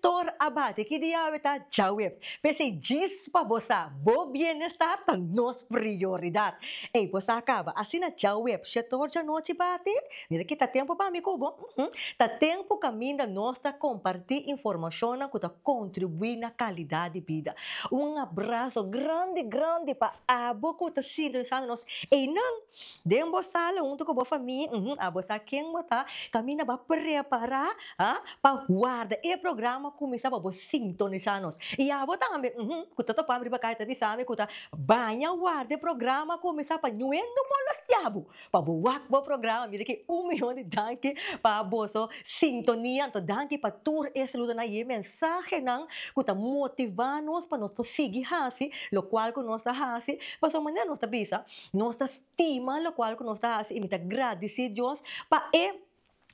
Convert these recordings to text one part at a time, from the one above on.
Tor a bati, ki dia awe ta? Djaweps. P'esei djis pa bo sa, bo bienestar ta nos prioridad. Ey, bo sa caba. Asina djaweps, shetor djanochi bati. Mira ki ta tempo pa mi cu bo. Uhm. Ta tempo caminda nos ta comparti informacionnan cu ta contribui na calidad di bida. Un abrazo grandi grandi pa abo cu ta sintonisando nos einan. Den bo sala huntu ku bo famia, uhm, a bo sa ken bo ta, kaminda bo a prepará, ha, pa warda e programa kuminsá pa bo sintonisá nos. I abo tambe, uhm, ku ta topami riba kai ta bisami ku ta baña warda e programa kuminsá pa ñu'é no molastiá bo, pa bo wak bo programa. Mira ke un miyon di danki pa boso sintonia. Anto danki pa tur e saludonan i e mensahenan ku ta motivá nos pa nos por sigui hasi lokual ku nos ta hasi. Pasobra manera nos ta bisa, Nos ta stima lokual ku nos ta hasi i mi ta gradisí Dios pa e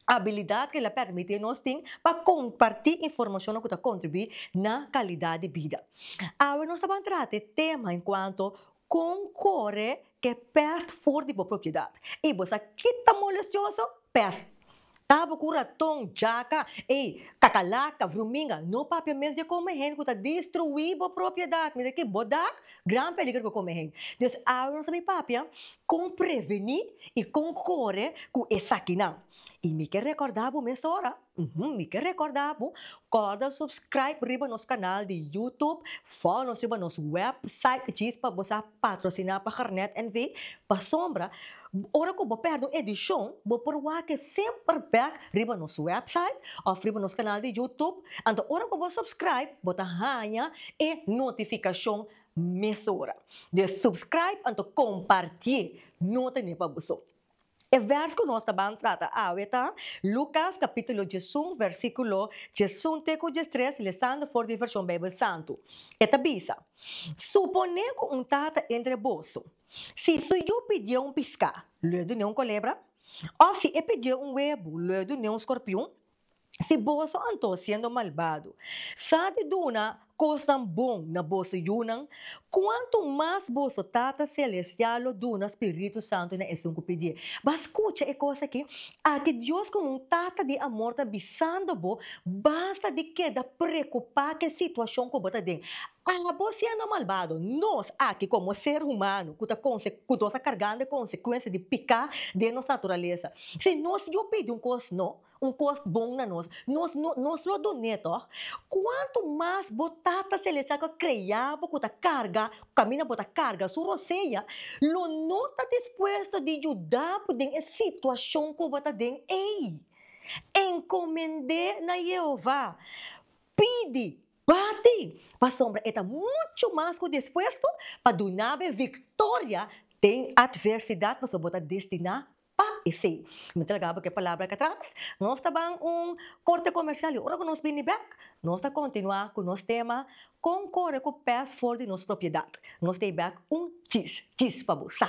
abilidat ku el a permití nos tin pa kompartí informashonnan ku ta kontribuí na kalidat di bida. Awe nos ta ban trata e tema enkuanto Kon kore ku e pèst for di bo propiedat. I bo sa kita molesioso? Pèst. Tabo ku raton, jaka, e kakalaka, vruminga, no papia mes dje kome hende ku ta destruí bo propiedat, mira aki, bo dak, gran peliger ku kome hende. Des awor nos a bin papia kon prevení i kon kore ku esakinan. I mi ke rekòrda bo mesora, uhumm, mi ke rekòrda bo, kòrda subscribe riba nos kanal di YouTube, fòlo nos riba nos wèpsait djis pa bo sa Patrociná pa Garnet NV. Pasobra, ora ku bo pèrdè un edishon, bo por wak e semper bèk riba nos wèpsait òf riba nos kanal di YouTube. Anto ora ku bo subscribe, bo ta haña e notifikashon mesora. Dus subscribe anto kompartié nota ne pa boso. E vers ku nos ta ban trata awe ta Lukas kapítulo djesun, vèrsikulo djesun te ku djestres, lesando for di Vershon Beibel Santu. E ta bisa, Suponé ku un tata entre boso, si su yu pidié un piská, lo e dun'é un kolebra? Òf si e pidié un webu, lo e dun'é un skorpion? Si boso anto, siendo malbado, sa di duna kosnan bon na boso yunan, kuantu mas boso Tata selestial lo duna spiritu santu na esun ku pidié. B'a skucha e kos akí, Aki Dios komo un tata di amor ta bisando bo, basta di keda preokupá ku e situashon ku bo ta den. Abo siendo malbado, nos aki komo ser humano ku ta konse ku nos ta kargando e konsekuensia di piká den nos naturalesa. Si nos yu pidi un kos, no. Un kos bon na nos, nos no nos lo don'é, tòg? Kuantu mas bo Tata Selestial ku a kreá bo ku ta karga, ku kaminda bo ta karga su roseña, lo no ta dispuesto di yuda bo den e situashon ku bo ta den ei. Enkomend'é na Yehova. Pidi, bati, pasobra e ta muchu mas ku dispuesto pa duna bo e viktoria den atversidat pasobra bo ta destiná Pa esei, mi ta laga bo ke palabra katras. Nos ta ban un korte komersial i ora ku nos bini bek, nos ta kontinuá ku nos tema Kon kore ku pes for di nos propiedat. Nos ta e bek un chis, chis pa bo sa.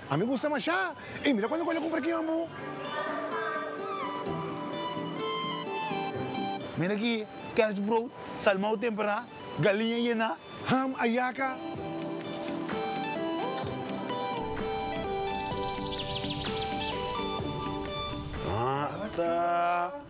A mi gusta masha y mira cuando cu ella cumpra kion bu. Mira aki, kerstbrood, salmou tempera, galiña yena, ham, ayaca. Ata.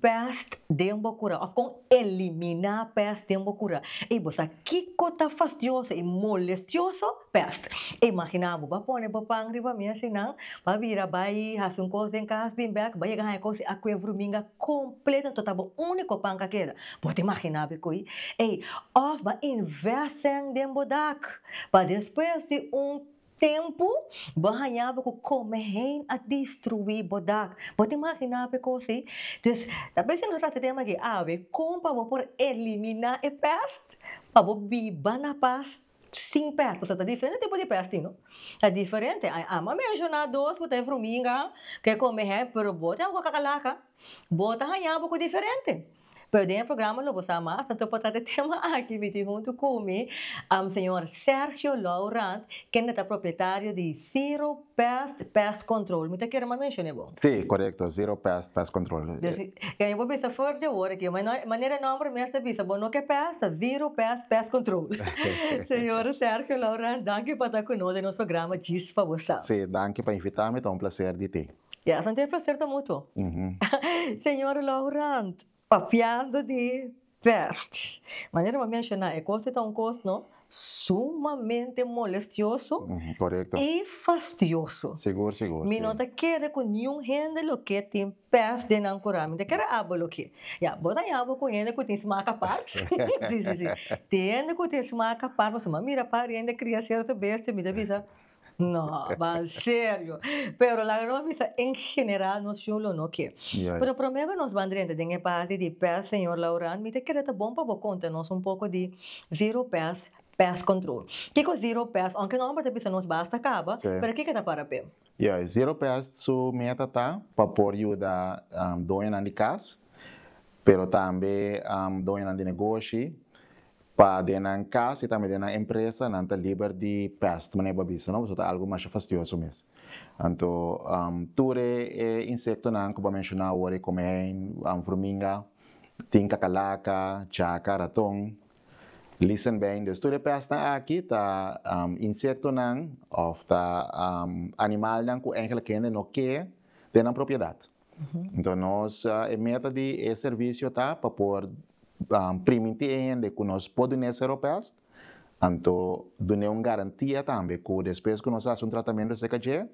pest den bo kura of kon eliminá pest den bo kura. I bo sa kiko ta fastioso i molestioso? Pest. Imaginá bo bo pone bo pan riba mes i nan bo a bira bai hasi un kos den kas bin bèk bo a yega haña kos i akue vruminga kompleto tabata bo úniko pan ka keda. Bo ta imaginá bo e kui? Ey, òf bo a invèst sèn den bo dak pa despues di un Tempu bo a haña bo ku kome heen a destruí bo dak. Bo ta imaginá pe kosi? Dus, ta bes si nos ta trata e tema aki awe, kon pa bo por eliminá e pèst pa bo biba na pas sin pèst? Pasobra ta diferente tipo di pèst tin, no? Ta diferente. A Ama a menshoná dos ku ta e fruminga ku e kome heen, pero bo ta haña bo ku kakalaka. Bo ta haña bo ku diferente. Pero den e programa lo bo sa mas tanto pa trata e tema aki bitin huntu ku mi, señor Sergio Lourant, kende ta propietario di Zero Pest Pest Control. Mi ta kere mas menshon'é bo. Sí, korekto, Zero Pest Pest Control. Desi, e mi por bisa fuert di awor aki, ma manera e nòmber mes ta bisa, bo no ke pest, ta Zero Pest Pest Control. Señor Sergio Lourant, danki pa ta ku nos den nos programa Djis pa bo sa. Sí, danki pa invitá mi, ta un plaser di tin. Ya esan ta e placer ta mutuo. Señor Laurent, papiando di pest. Manera bo a menciona, e cos ei ta un cos no sumamente molestioso y fastioso. Mi no ta kere cu niun hende loke tin pest den nan cura. Mi ta kere abo loke. Ya, bo ta yabo cu hende cu tin smaak apart. Si, si, si. Tin hende cu tin smaak apart, pasobra mi a mira par hende cria cierto bestia, mi ta bisa, No, ba serio. Pero laga nos bisa en general nos yu lo no ke. Pero prome ku nos ban drenta den e parti di pest señor Laurant mi ta kere ta bon pa bo konta nos un poko di zero pest, pest control. Kiko zero pest aunke no hombro ta bisa nos basta kaba pero kiko ta para pe? Ya, zero pest su meta ta pa por yuda doñonan di kas pero tambe doñonan di negoshi Pa den nan cas y tambe den nan empresa nan ta liber di pest, manera bo a bisa no, pasobra ta algo masha fastioso mes. Anto tur e e insectonan cu bo a menciona awor, e comejin, furminga, tin cacalaca, chaca, raton, lisenbeen, dus tur e pestnan aki ta insectonan of ta animalnan cu eigenlijk hende no ke den nan propiedad. Enton nos e meta di e servicio ta pa por priminti e hende cu nos por dun'e Seropest, anto dun'e un garantia tambe cu despues cu nos haci un tratamento acerca dje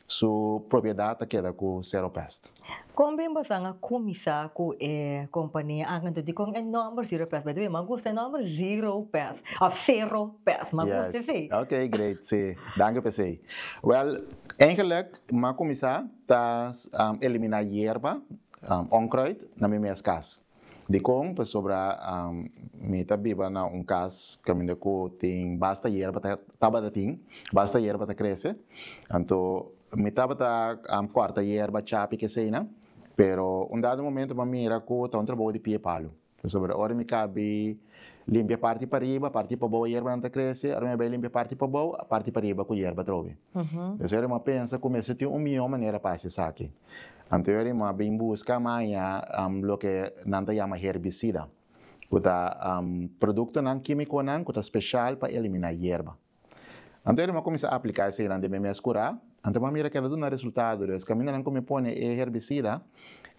su propiedad ta keda cu Seropest. Con bin bosan a cuminsa cu e compania ak anto dicon e nomber Zeropest? By the way, m'a gusta e nomber Zeropest of Seropest, m'a gusta esey. Yes, ok great, si, danki p'esey. Wel, eigenlijk m'a cuminsa ta eliminá yerba, onkruid, na mi mes kas. Dikon? Pasobra mi ta biba na un kas kaminda ku tin basta yerba, tabata tin basta yerba ta krese. Anto mi tabata kòrta yerba, chapi, ke eseinan, pero un dado momento mi a mira ku ta un trabou di pie palu. Pasobra ora mi kabi limpia parti pariba, parti pabou e yerbanan ta krese, ora mi a bai limpia parti pabou, parti pariba ku yerba atrobe. Entonces ora mi a pensa ku mester tin un mihó manera pa hasi esaki. Anto ora mi a bin buska maña loke nan ta yama herbisida, ku ta produktonan kímikonan ku ta speshal pa eliminá yerba. Anto ela mi a kuminsá apliká eseinan den mi mes kurá, anto mi a mira ku el a duna resultado des kamindanan ku mi pone e herbisida,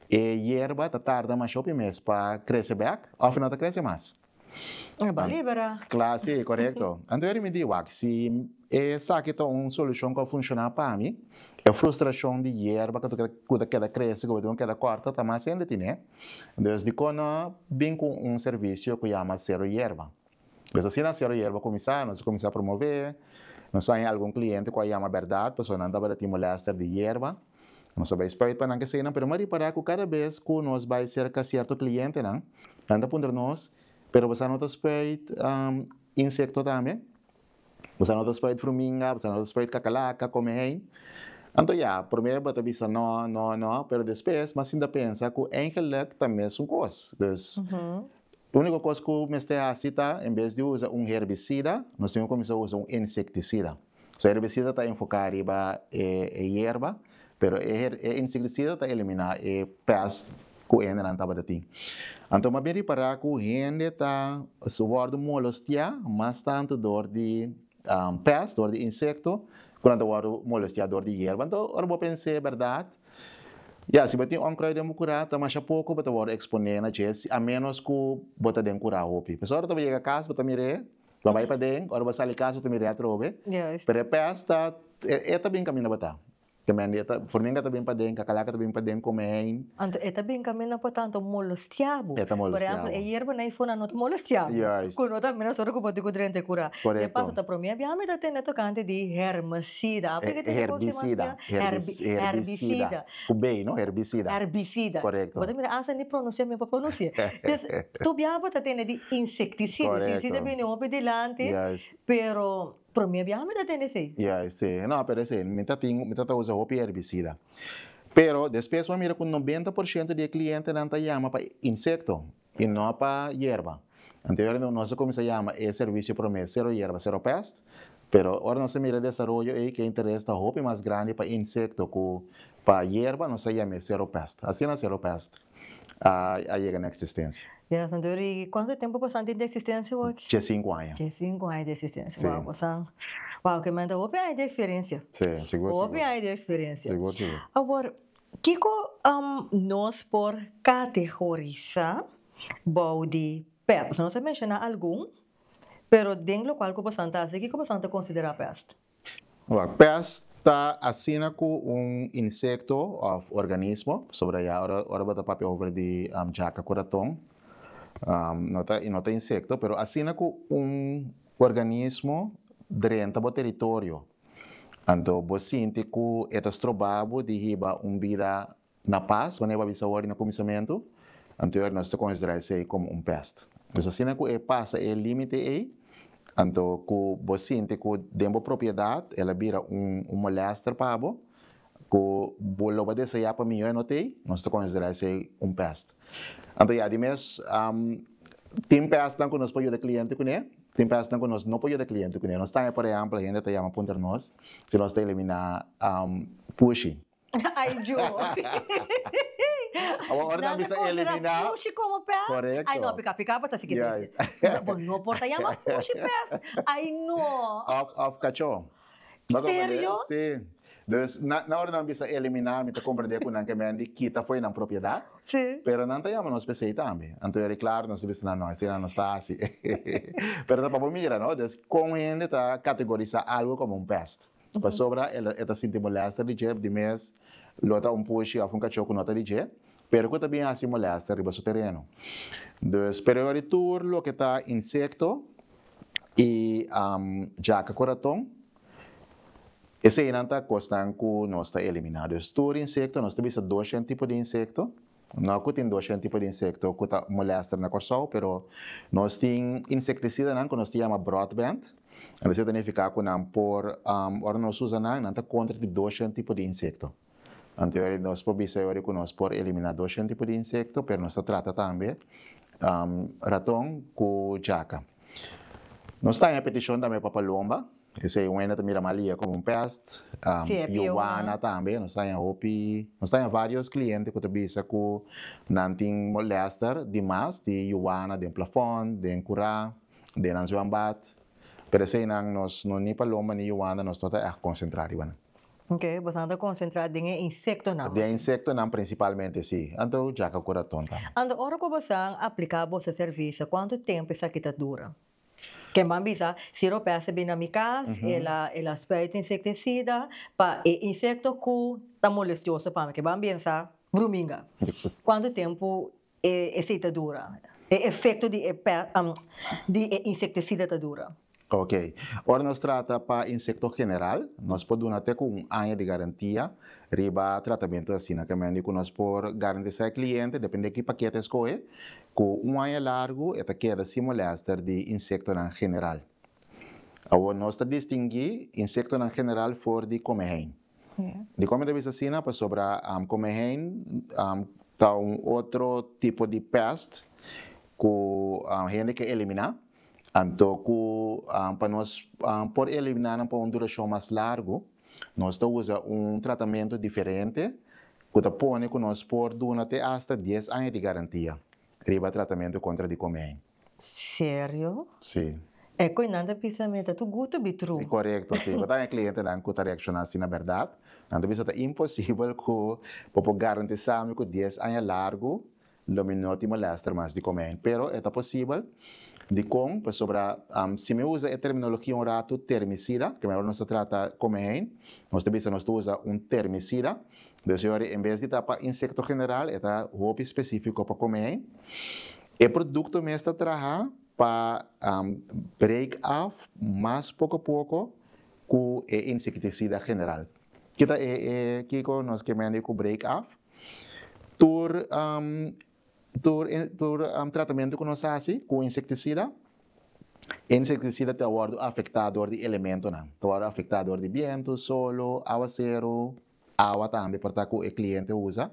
e yerba ta tarda masha hopi mes pa krese bèk òf e no ta krese mas. E ba libera. Kla, si, korekto. Anto ela mi di, wak, si esaki ta un solushon ku a funshoná pa mi, e frustrashon di yerba ku ta keda krese ku bo tin ku keda kòrta ta mas hende tine, dus dikon no bin ku un servisio ku yama Sero Yerba? Pues asina a Siora Yerba kuminsá, nos a kuminsá promové, nos haña algun kliente ku a yama bèrdat pasobra nan tabata tin molèster di yerba, nos a bai spruit pa nan kesenan, pero nan a ripará ku kada bes ku nos bai serka sierto klientenan, nan ta puntra nos, pero bo sa no ta spruit insekto tambe? Bosa no ta sprait fruminga, bosa no ta sprait kakalaka kome hei. Anto ya, promé bo ta bisa no, no, no, pero despues bo a sinta pensa ku eingelik ta mesun kos. Dus, úniko kos ku mester hasi ta en bes di usa un herbisida, nos tin ku kuminsá usa un insektisida. So herbisida ta enfoká riba e yerba. Pero e insektisida ta eliminá e pèst ku e hendenan tabata tin. Anto mas bien ripará ku hende ta wòrdu molostiá mas tantu dor di pèst, dor di insekto, ku nan ta wòrdu molostiá dor di yerba. Anto ora bo pens'é bèrdat, ya si bo tin ònkrui den bo kurá ta masha poko bo ta wòrdu eksponé na dje a ménos ku bo ta den kurá hopi. Pasobra ora bo ta yega kas bo ta mir'é Lo bai paden, ora bo sali casa ta mira e atrobe, pero e pes ta e ta bin camina bota. Te mende e ta formiga ta bin paden, cacalaca ta bin paden come hein. Anto e ta bin camina bota anto molostiá bo. E ta molostiá bo. Por ehemplo e yerba na ifuna no ta molostiá bo. Juist. Cu no ta mira sor cu bo di cu drenta e cura. Correcto. E pasa ta prome bia mi ta tende tocante di hermicida. Aplicativo. Herbicida. Herbicida. Ku bey no, herbicida. Herbicida. Correcto. Bo ta mira hasta ni pronuncia mi no por pronuncia. Entonces tur biaha bo ta tende di insecticida. Correcto. Insecticida ta bini hopi dilanti. Juist. Pero prome biaha mi ta tende esey. Juist, si. No, pero esey mi ta tin, mi ta ta usa hopi herbicida. Pero despues bo a mira ku noventa por shento di e klientenan ta yama pa insecto. I no pa yerba. Anteriormente nos a cuminsa yama e servicio prome Cero Yerba, Cero Pest, pero ora nos a mira e desaroyo ei cu e interes ta hopi mas grandi pa insecto cu pa yerba nos a yam'e Cero Pest. Asina Cero Pest a yega na existencia. Ya, Santiago, y cuantu tempo bosan tin di existencia bo aki? Dje sinku aña. Dje sinku aña di existencia. Si. Wow, bosan, wow, kiman ta hopi aña di experiencia. Si, sigur, sigur. Hopi aña di experiencia. Sigur, sigur. Awor, Kiko nos por kategorisá bou di pèst? Nos a menshoná algun, pero den lokual ku boso a ta hasi, kiko boso a ta konsiderá pèst? Wak, pèst ta asina ku un insekto òf organismo, pasobra ya ora bo ta papia over di djaka ku raton, no ta i no ta insekto, pero asina ku un organismo drenta bo teritorio, Anto bo sinti ku e ta stroba bo di hiba un bida na pas? Manera bo a bisa awor i na kuminsamentu anterior nos ta konsidera esei komo un pèst. Pues asina ku e pasa e límite ei, anto ku bo sinti ku den bo propiedat el a bira un molèster pa bo, ku bo lo bo a desayá pa mihó e no t'ei, nos ta konsidera esei un pèst. Anto ya di mes, tin pèsnan ku nos por yuda kliente kuné, tin pèsnan ku nos no por yuda kliente kuné. Nos ta, por ehèmpel, hende ta yama puntra nos si nos ta eliminá pushi. Ai djo! Awor ora nan bisa eliminá. Pushi komo pès? Korekto. Ai no, pika pika bo ta siki triste. Bo no por ta yama pushi pès. Ai no! Òf òf kachó. Paso a fader? Serio? Sí. Dus, na, na ora nan bisa eliminá, mi ta komprendé ku nan ke men di kita fo'i nan propiedat, Sí. pero nan ta yama nos p'esei tambe. Anto yo di, Klaru, nos ta bisa na no, asina nos ta hasi. Pero ta pa bo mira, no? Dus, kon hende ta kategorisá algu komo un pèst? Pasobra e lo, e ta sinti molèster di dje, di mes lo ta un pushi òf un kachó ku no ta di dje, pero cu ta bien haci molesta riba su tereno. Dus pereoa di tur loke ta insecto y jaca cu raton, eseynan ta cosnan cu nos ta elimina. Dus tur insecto, nos ta bisa doshen tipo di insecto, no cu tin doshen tipo di insecto cu ta molesta na Corsou, pero nos tin insecticidanan cu nos ta yama broadband, entonces e ta nifica cu nan por, ora nos usa nan, nan ta contra di doshen tipo di insecto. Anto yori nos por bisa yori ku nos por eliminá dos shen tipo di insekto, pero nos ta trata tambe raton ku jaka. Nos ta haña petishon tambe pa palomba, esei un hende ta mira mal iya komo un pèst, yuana tambe, nos ta haña hopi, nos ta haña vários kliente ku ta bisa ku nan tin molèster di mas di yuana den plafòn, den kurá, den nan zwèmbat, pero eseinan nos no ni palomba ni yuana nos no ta ègt konsentrá riba nan. Oke, boso ta konsentrá den e insektonan. Den insektonan prinsipalmente, si. Anto djaka ku raton tambe. Anto ora ku boso a apliká boso servisio, kuantu tempu esaki ta dura? Ke man bisa, si ropes a bini na mi kas, el a spruit insektisida pa e insekto ku ta molestioso pa mi, ke ban binsá bruminga. Kuantu tempu E esey ta dura. E efecto di e pes di e insecticida ta dura. Ok. Ora nos trata pa insecto general, nos por duna te cu un aña di garantia riba tratamento asina. Ca mendi cu nos por garantisa e cliente, depende cu paquete e scoge, cu un aña largu e ta keda sin molester di insectonan general. Awor nos ta distingui insectonan general for di come heen. Di kome ta bisa asina pasobra komehein ta un otro tipo di pèst ku hende ke eliminá, anto ku pa nos por eliminá nan pa un durashon mas largu nos ta usa un tratamentu diferente ku ta pone ku nos por duna te asta dies aña di garantia riba tratamentu kontra di komehein. Serio? Si. E koe nan ta bisa mi ta tu guto bi tru. Korekto si, bo ta haya klientenan ku ta reakshona asina bèrdat. Nan ta bisa ta imposibel ku bo por garantisá mi ku dies aña largu lo mi no tin molèster mas di komen. Pero e ta posibel. Dikon? Pasobra si mi usa e terminologia un ratu termisida, ke mihor nos ta trata kome hei, nos ta bisa nos ta usa un termisida. Dor señor, en bes di ta pa insekto general e ta hopi spesífiko pa kome hei. E produkto mes ta traha pa break af mas poko poko ku e insektisida general. Kita e kiko nos ke mende ku break af. Tur tur tratamentu ku nos hasi ku insektisida, e insektisida ta wòrdu afektá dor di elementonan, ta wòrdu afektá dor di bientu, solo, awaseru. awa tambe por ta ku e kliente usa.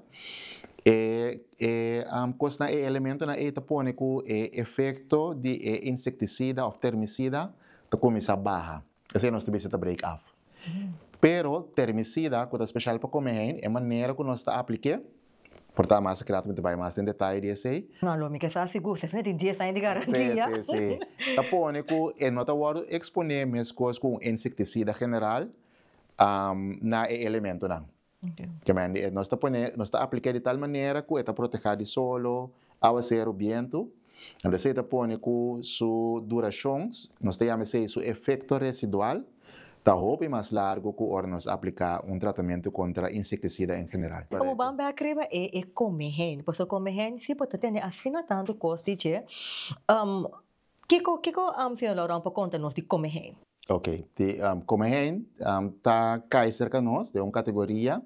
E e kosnan, e elementonan ei ta pone ku e efekto di e insektisida òf termisida ta kuminsá baha. Esei nos ta bisa ta break af. Pero termisida ku ta speshal pa kome hein, e manera ku nos ta aplik'é, por ta mas akirá ta bai mas den detaye di esei. No, lo mi ke sa sigur, si esei no tin dies aña di garantia. Sí, sí, sí. Ta pone ku e no ta wòrdu eksponé meskos ku un insektisida general na e elementonan. Nos ta pone, nos ta apliké di tal manera ku e ta protehá di solo, áwaseru, bientu. Anto esei ta pone ku su durashon, nos ta yama esei su efekto residual, ta hopi mas largu ku ora nos apliká un tratamentu kontra insektisida en general. Komo ban bèk riba e e kome heni, pasobra kome heni si por ta tene asina tantu kos di dje, Kiko kiko Señor Laurent por conta nos di Come Heen? Ok di Come Heen ta cay cerca nos den un categoria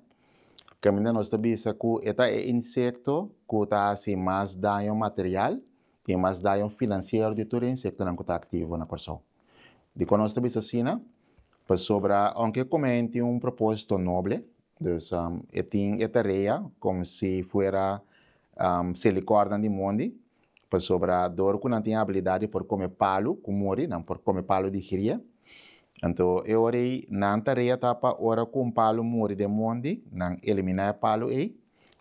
caminda nos ta bisa cu e ta e insecto cu ta haci mas daño material y mas daño financiero di tur e insectonan cu ta activo na Corsou. Dico nos ta bisa asina? Pasobra aunke Come Heen tin un proposito noble dus e tin e tarea como si fuera selicornan di mondi Pasobra dor ku nan tin abilidat di por kome palu ku muri, nan por kome palu di gria. Anto e ora ei nan tarea ta pa ora ku un palu muri den mondi, nan eliminá e palu ei,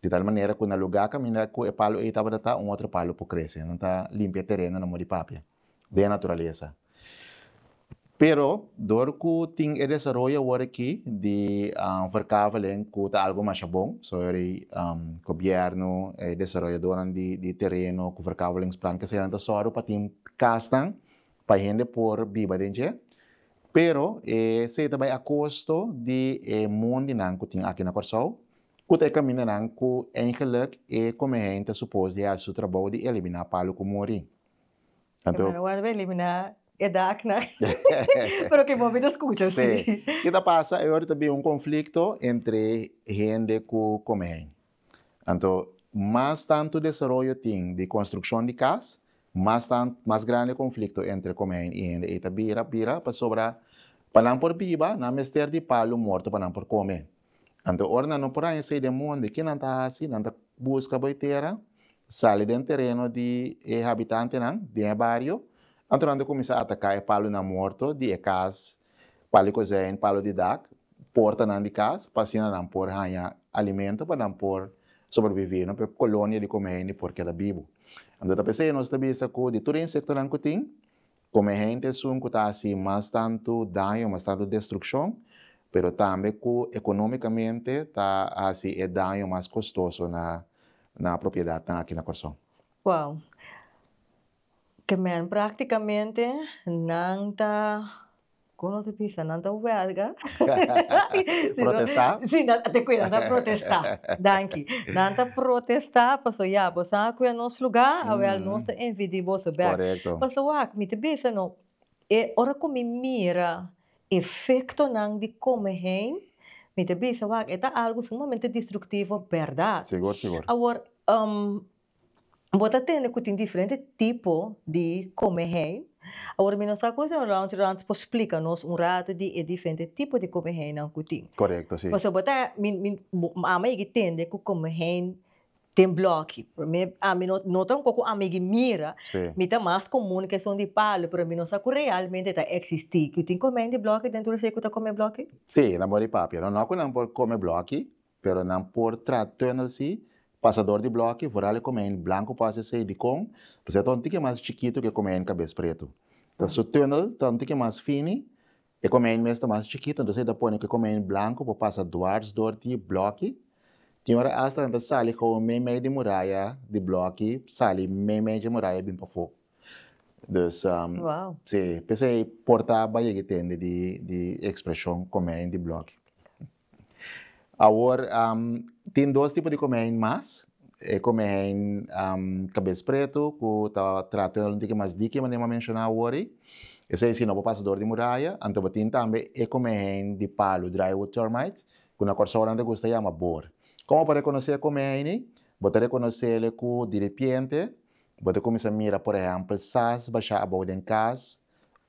di tal manera ku na lugá kaminda ku e palu ei tabata ta, un otro palu por krese. Nan ta limpia e tereno na mor di papia. den e naturalesa. Pero dor ku tin e desaroyo awor aki di verkaveling ku ta algu masha bon, so yor di gobièrnu, e desaroyadónan di tereno ku verkavelingsplan ke senan ta sòru pa tin kasnan pa hende por biba den dje, pero esei ta bai a kosto di e mon di nan ku tin aki na Kòrsou, ku ta e kamindanan ku eigenlik e Komihei ta supos di hasi su trabou di eliminá palu ku muri. Anto. Hermano Waldo a elimina e daknan pero ke momen ta skucha si. Sí. Ke ta pasa e ora ta bin un konflikto entre hende ku kome hen. Anto mas tantu desaroyo tin di konstrukshon di kas mas tan mas grandi e konflikto entre kome hen i hende ei ta bira bira pasobra pa nan por biba nan mester di palu morto pa nan por kome. Anto ora nan no por haña esei den monde, ke nan ta hasi? Nan ta buska bo e tera, sali den tereno di e habitantenan, den e bario, anto nan ta kuminsá ataká e palunan morto di e kas, palo di kozijn, palo di dak, portanan di kas, pa asina nan por haña alimento pa nan por sobreviví, no? pa e kolonia di Come Hende por keda bibu. Anto ta p'esei nos ta bisa ku di tur e insektonan ku tin, Como e hende esun cu ta haci mas tanto daño, mas tanto destruccion, pero tambe cu economicamente ta haci e daño mas costoso na nan propiedadnan aki na Corazon. Wow. Ke men practicamente nan ta. Kon nos a bisa? Nan ta huelga? Protesta? Si, nan, te kuida, nan ta protesta, danki. Nan ta protesta pasobra ya, bo sa ku e nos lugá, awèl nos ta envidí boso bèk. Korekto. Pasobra wak, mi ta bisa no, e ora ku mi mira efektonan di kome heen, mi ta bisa, wak, e ta algu sumamente destruktivo, bèrdat. Sigur, sigur. Awor, Bo ta tende ku tin diferente tipo di kome hei. Awor mi no sa komo señor Lountjrant por splika nos un ratu di e diferente tipo di kome heinan ku tin. Korekto, si. Pasobra bo ta, mi, mi, bo, ama a yigi tende ku kome hei den blòki. Promé, ami no, no ta un kos ku ami a yigi mira. Si. Mi ta mas komun ku esun di palu, pero mi no sa ku realmente e ta eksistí. Ku tin kome hei di blòki dentro di esei ku ta kome blòki? Si, nan bo di papia. Nònòkunan por kome blòki. Pero nan por tra tunnel si pasador di bloki for ale come ein blanco por hace esey dicon pasobra ta un tiki mas chikitu ke come ein cabes pretu ta su tunnel ta un tiki mas fini e come ein mes ta mas chikitu entonces ey ta pone ke come ein blanco por pasa duars door di bloki tin ora hasta nan ta sali gewoon mei mei di muraya di bloki sali mei mei dje muraya bin pafo dus si pesey por ta bai yegi tende di expresion come ein di bloki. Awor tin dos tipo di komehein mas, e komehein kabes pretu ku ta tratu den un tiki mas diki manera mi a menshoná awor ei, esei si no bo pasa dor di muraya, anto bo tin tambe e komehein di palu, drywood termites, ku na Kòrsou nan ta gusta yama bor. Kon bo ta rekonosé e komehein ei? Bo ta rekonosé le ku diripiente bo ta kuminsá mira por ehèmpel sas bashá abou den kas,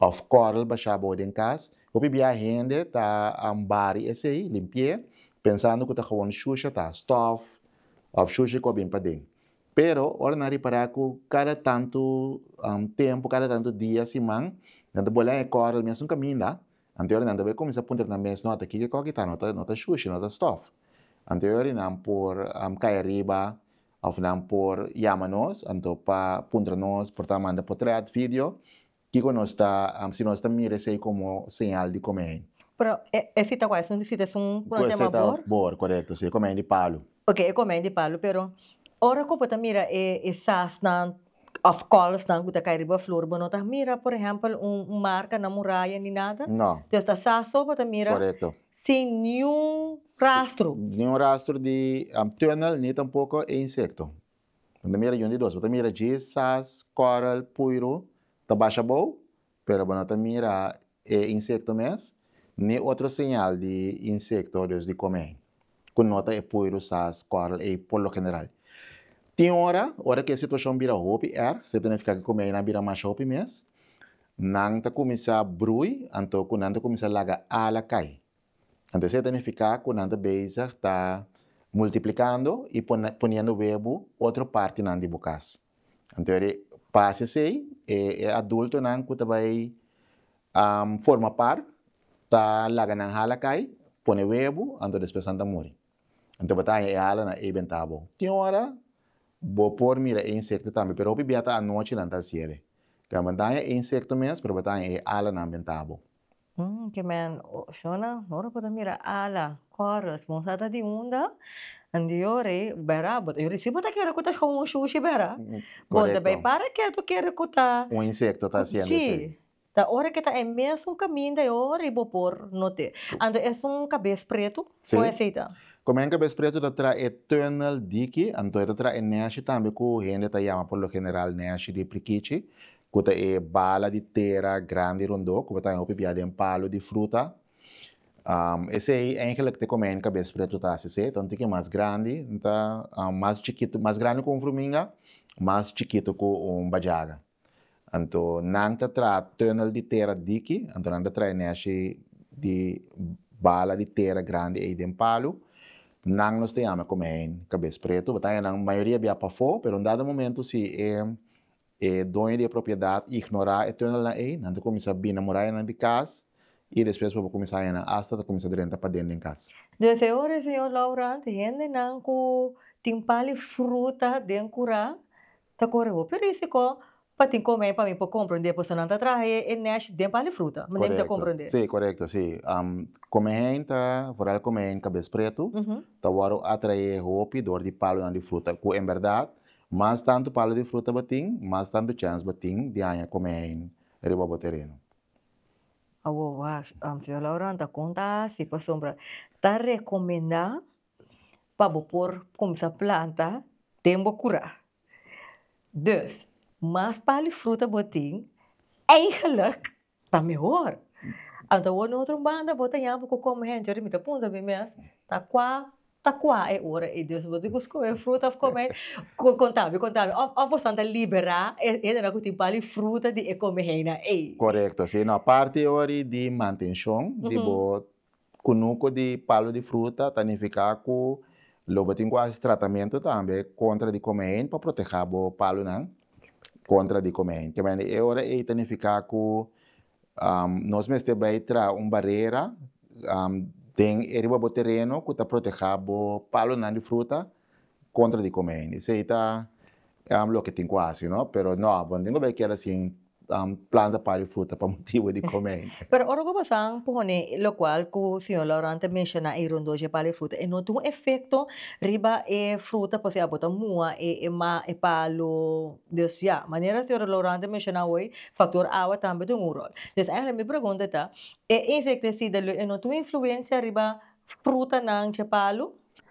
Òf kòrl basha abou den kas. Hopi bia hende ta ambari esei, limpi'é, pensando ku ta gewoon shusha, ta stòf òf shusha ku a bin paden. Pero ora nan ripará ku kada tantu tempu, kada tantu dia, siman, nan ta bolea e kòrl mesun kaminda, anto yori nan ta bai kuminsá puntra nan mes, Nòt, kiko e kòrl ki ta? No ta shusha, no ta stòf. Anto yori nan por kai ariba Of nan por yama nos anto pa puntra nos por ta manda potrèt, video, kiko nos ta si nos ta mira esei komo señal di komei. Pero e sita ku ayson di sita es un ku nan ta yama bor? Bor, korekto, si e komei di palu. Ok, e komei di palu, pero ora ku bo ta mira e sasnan Of kòlsnan ku ta kai riba flor. Bo no ta mira por ehèmpel un marka na muraya ni nada. Dios ta sa so bo ta mira sin niun rastro. Niun rastro di tunnel ni tampoko e insekto. Bo ta mira yundidós. Bo ta mira dje, sas, kòrel, puiru ta basha abou Pero bo no ta mira e insekto mes, ni otro señal di insekto, dus di komei, ku no ta e puiru sas kòrl ei por lo general. Tin ora, ora ku e situashon bira hopi erg, se ta nifiká ku e komeinan bira masha hopi mes, nan ta kuminsá brui, anto ku nan ta kuminsá laga ala kai. Anto esei ta nifiká ku nan ta bezig ta multiplikando i poniendo webu otro partinan di bo kas. Anto e pas esei e adultonan ku ta bai forma par ta laga nan hala kai, pone webu, anto despues nan ta muri. Anto bo ta haña e hala na ei bentá abou. Tin ora bo por mira e insekto tambe pero hopi bia ta anochi nan ta hasié e. Bo ta haña e insekto mes pero bo ta haña e halanan bentá abou. Ki men shona ora bo ta mira ala kòr responsada di unda anto yo rei bera yo rei si bo ta kere ku ta shon un shushi bera bo ta bai para ketu kere ku ta un insekto ta hasiendo si ta ora ke ta e mesun kaminda yo rei bo por not'e anto es un kabes pretu kon esei ta. Kuma hen kabes pretu ta trahe tunnel diki anto e ta trahe neshi tambe ku hende ta yama por lo general neshi di prikichi Ku ta e bala di tera grandi rondó ku bo ta haña hopi bia den palu di fruta? Esei eingelik te kome N kabes pretu ta hasi se. Tantu ke mas grandi N ta, mas chikitu, mas grandi ku un fruminga, mas chikitu ku un bajaga. Anto nan ta traha tunnel di tera diki, anto nan ta traha e neshi di bala di tera grandi ei den palu. Nan nos ta yama e kome N kabes pretu. Bo ta haña nan mayoria bia pafó, pero un dado momentu si e E doño di e propiedat ignorá e túnelnan ei, nan ta kuminsá bina murayanan di kas i despues por bo kuminsá hañanan asta ta kuminsá drenta paden den kas. Dje e ora e señor Laurent, hendenan ku tin pali fruta den kurá ta kore hopi rísiko pa tin komé pa mi por komprondé, pasobra nan ta traha e nesh den pali fruta, manera mi ta komprondé. Sí, korekto, sí. Komé hen ta, vooral komé hen kabes pretu, ta wòrdu atraé hopi dor di palonan di fruta ku en bèrdat Mas tantu palu di fruta bo tin, mas tantu chèns bo tin di haña kome ein riba bo tereno. Awor wacht, Señor Laurent ta kon ta hasi pasobra ta rekomendá pa bo por kuminsá planta den bo kura. Dus, mas palu di fruta bo tin, eigenlijk ta mehor. Anto awor no otro banda bo ta yaha bo ku kome hende ora mi ta punta mi mes ta kua ta kua e ora ei dios bo di ku skohe fruta of kome hei konta mi konta mi of bo san ta libera e hendenan ku tin bal i fruta di e kome heinan ei. Korekto si no aparte ori di mantenshon di bo Kunuku di palu di fruta ta nifiká ku lo bo tin ku hasi tratamentu tambe kontra di kome hèn pa protehá bo palunan kontra di kome hèn. Temende e ora ei ta nifiká ku nos mester bai traha un barera den e riba bo tereno ku ta protehá bo palunan di fruta kontra di kome hende. Esei ta loke tin ku hasi no, pero no abo, tin ku bai keda sin planta par di fruta pa motibu di kome hende. Pero ora ku pasan pone lokual ku señor Laurent ta menshoná ei rondó dje par di fruta, e no tin un efekto riba e fruta pasobra abo ta mua e e palu, dus ya, manera señor Laurent ta menshoná hoy, faktor awa tambe tin un ròl. Entonces eigenlijk mi pregunta ta, e insektisida lo e no tin un influensia riba frutanan dje palu?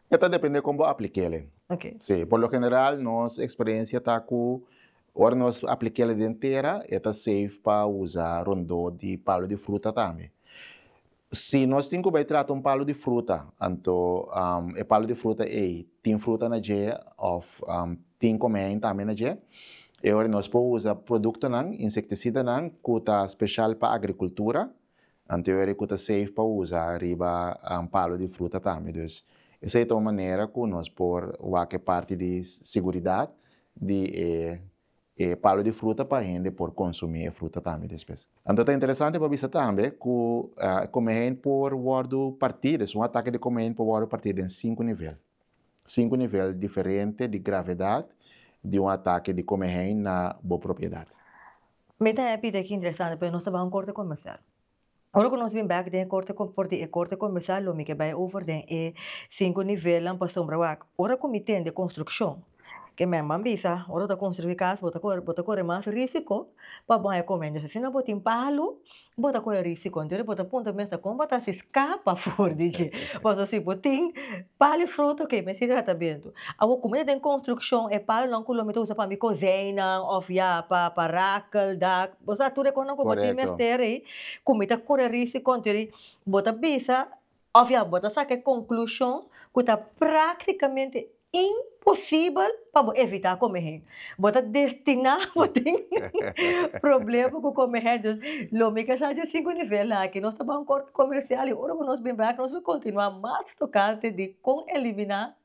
E ta depende kon bo aplik'el. Si, por lo general nos eksperensia ta ku ora nos aplik'el den tera e ta seif pa usa rondó di palu di fruta tambe. Si nos tin ku bai trata un palu di fruta anto e palu di fruta ei tin fruta na dje òf tin komèin tambe na dje e ora nos por usa produktonan, insektisidanan ku ta speshal pa agrikultura, Antiweri ku ta safe pa usa riba palu di fruta tambe. Dus esei ta un manera ku nos por wak e parti di siguridat di e e palu di fruta pa hende por konsumí e fruta tambe despues. Anto ta interesante pa bisa tambe ku e komehein por wòrdu partí, dus un atake di komehein por wòrdu partí den sinku nivel. Sinku nivel diferente di gravedat di un atake di komehein na bo propiedat. Mi ta happy de ki interesante pero nos ta bai un corte comercial. Ora cu nos bin back den e corte com for di e corte comercial lo mi ke bai over den e cinco nivelnan pa sombra wak. Ora cu mi tende construccion ke men ban bisa ora bo ta construi casa bo ta corre mas risico pa bo haya comendios. Asina bo tin palo Bo ta kohe risi konta yo, bo ta puntra mester kon bo ta hasi skapa for di dje. Paso si bo tin pal e fruta oke mester di tratamentu. Awor kuma ta den konstrukshon e palonan ku lo mi ta usa pa mi kozeinan òf ya pa pa rakel, dak, bo sa tur e kosnan ku bo tin mester ei ku mi ta kura risi konta yo ei bo ta bisa Òf ya bo ta saka e konklushon ku ta práktikamente imposibel pa bo evitá komehé. Bo ta destiná pa tin problema ku komehé. Dus, lo mi kasa dje sinku nivel aki. Nos ta bai un kòrte komersial i ora ku nos bin bai aki nos lo kontinuá mas tokante di kon eliminá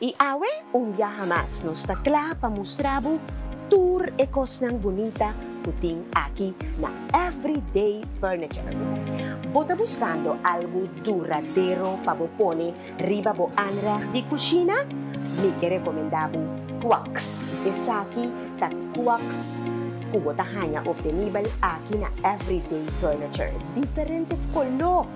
I awe, un biaha mas, nos ta kla pa mustra bo tur e kosnan bunita ku tin aki na Everyday Furniture. Bo ta buskando algu duradero pa bo pone riba bo aanrecht di kushina? Mi ke rekomendá bo Quax. Esaki ta Quax ku bo ta haña optenibel aki na Everyday Furniture. Diferente koló!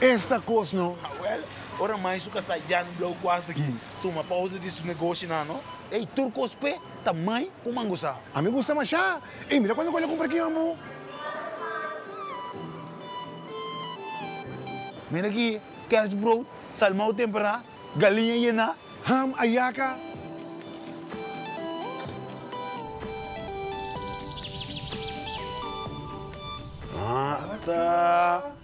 Esta cos no. Awel, ora mai su casa ya no blauw cuas aki, tuma pausa di su negoshi nan no. Ey, tur cos pe ta mai cu mangusa. A mi gusta masha. Ey, mira cuando cu el a cumpra aquí amo. Mira aki, kerstbrood, salmao tempera, galiña yena. Ham, ayaca. Ata.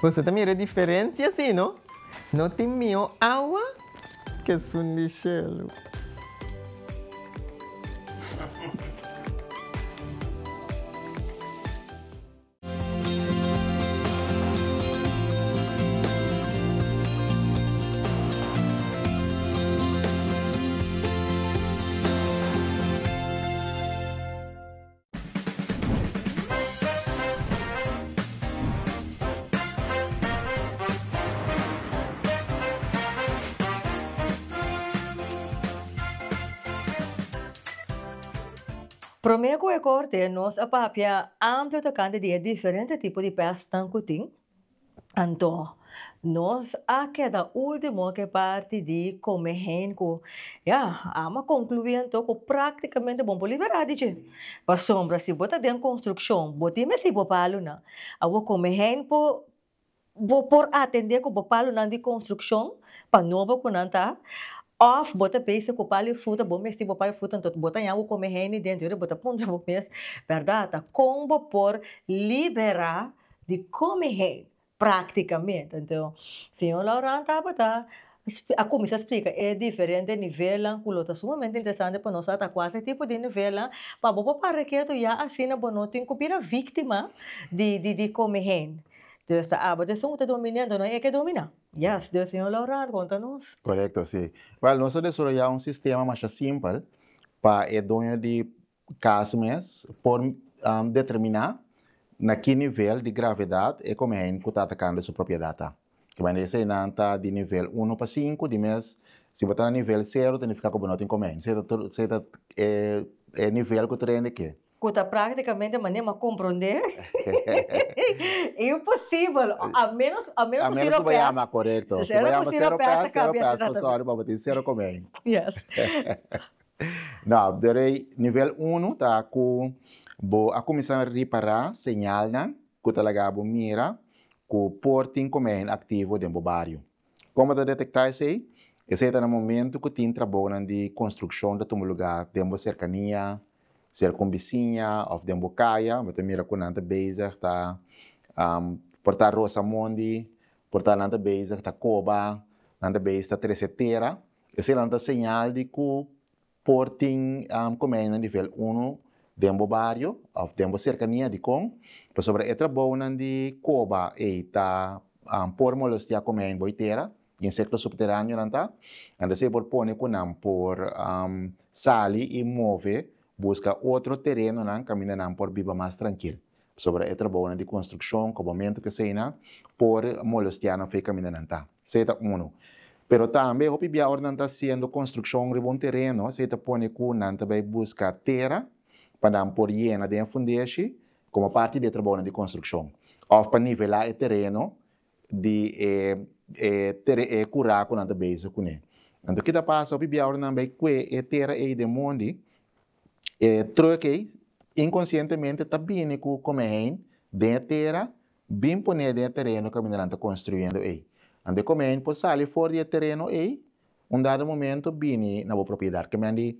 Boso ta mira e diferencia si no? No tin mihó awa ke sun di shelu. Promé ku e korte nos a papia amplu tokante di e diferente tipo di pèstnan ku tin, Anto, nos a keda ultimo ke parti di kome heen ku ya Ame a konkluí anto ku praktikamente bo no por liberá di dje. Pasobra si bo ta den konstrukshon, bo tin mesi bo palunan. Awor kome heen por bo por atendé ku bo palunan di konstrukshon pa nobo ku nan ta òf bo ta beise ku pal i fruta bo mesti bo pal i fruta anto bo ta ña bo kome heen den djori bo ta puntra bo mes, bèrdat? Kon bo por liberá? di come hei practicamente enton señor Laurent tabata a cuminsa explica e diferente nivelnan cu lo ta sumamente interesante pa nos ata cua ta tipo di nivelnan pa bo por papia ketu ya asina bo no tin cu bira victima di come hei dus ta aba esun cu ta domina enton no eke domina yes den señor Laurent conta nos. Correcto si, well nos a desoroya un sistema masha simpel pa e doño di cas mes por determina na ki nivel di gravedad e komein ku ta atakando su propiedat ta. Ta banda esei nan ta di nivel uno pa sinku di mes, si bo ta na nivel sero ta nifiká ku bo no tin komein. Esei ta esei ta e nivel ku ta rende ke. Ku ta praktikamente manera mi a komprondé imposibel a menos a menos ku siro pes. A menos ku bo yama, korekto. Si bo yama sero pes, sero pes, pasobra bo tin sero komein. Yes. No, de rei nivel uno ta cu bo a cuminsa ripara señalnan cu ta laga bo mira cu por tin comehin activo den bo bario. Como ta detecta esey? Esey ta na momento cu tin trabaonan di construccion ta tuma lugar den bo cercania, circumbiciña of den bo caya, bo ta mira cu nan ta bezig ta por ta rosa mondi, por ta nan ta bezig ta coba, nan ta bezig ta trece tera. Esenan ta señal di cu por tin comenianan di vel unu den bo bario of den bo cercania dicon? Pasobra e trabounan di coba ey ta por molestia comeni bo y tera, insecto subterraneonan ta, enta esey por pone cu nan por sali y move busca otro terenonan caminda nan por biba mas trankil. Pasobra e trabounan di konstrukshon, kobamentu ku eseinan, por molestia nan fe kaminda nan ta. Esei ta unu. Pero tambe hopi bia ora nan ta hasiendo konstrukshon riba un tereno, esei ta pone ku nan ta bai buska tera pa nan por yena den fundeshi komo parti di e trabounan di konstrukshon òf pa nivelá e tereno di e e kurá ku nan ta bezig kuné. Anto ke ta pasa, hopi bia ora nan bai kue e tera ei den mondi, E truck ei inkonsientemente ta bini ku komehein den e tera bin pone den e tereno ku kamindanan ta konstruyendo ei. Anto e komehein por sali for di e tereno ei un dado momento bini na bo propiedat. Kemen di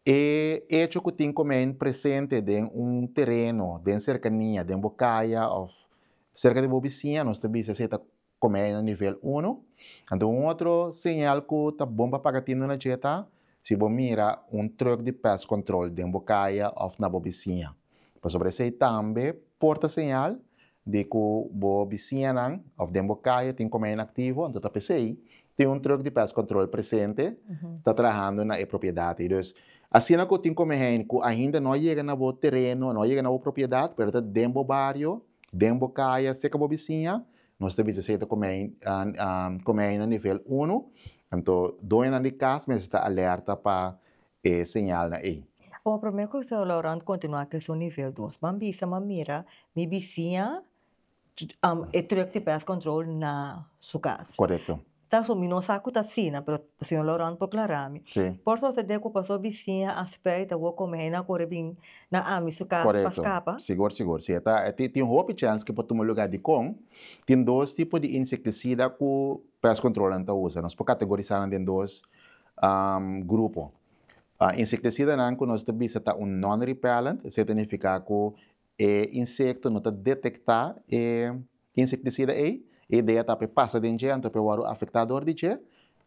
e echo ku tin komehein presente den un tereno den serkania den bo kaya òf serka di bo bisiña nos ta bisa esei ta Komei na nivel uno. Anto un otro señal ku ta bon pa paga tinduna dje ta si bo mira un trùk di pest control den bo kaya òf na bo bisiña. Pasobra esei tambe por ta señal di ku bo bisiñanan òf den bo kaya tin komei inaktivo, anto ta p'esei tin un trùk di pest control presente ta trahando na e propiedat ei. Dus asina ku tin komei ku ainda no a yega na bo tereno, no a yega na bo propiedat pero ta den bo bario, den bo kaya, serka bo bisiña Nos ta bisa si e ta kome ai na nivel uno, anto doñonan di kas mester ta alerta pa e señalnan ei. Oca prome cu señor Laurent continua cu esun nivel dos ban bisa man mira mi bisiña e truck di pest control na su cas. Correcto. Ta so mi no sa cu ta asina pero señor Laurent por clara mi por sucede cu pasobra bisiña a spray ta wor come hei nan a corre bin na ami su cas pa scapa. Correcto sigur sigur si eta tin hopi chance cu por tuma lugar di con tin dos tipo di insecticida cu pest control nan ta usa nos por categorisa nan den dos grupo insecticida nan cu nos ta bisa ta un non repellent esey ta nifica cu E insekto no ta detektá e insektisida ei. E idea ta pa e pasa den dje anto pa e wòrdu afektá dor di dje.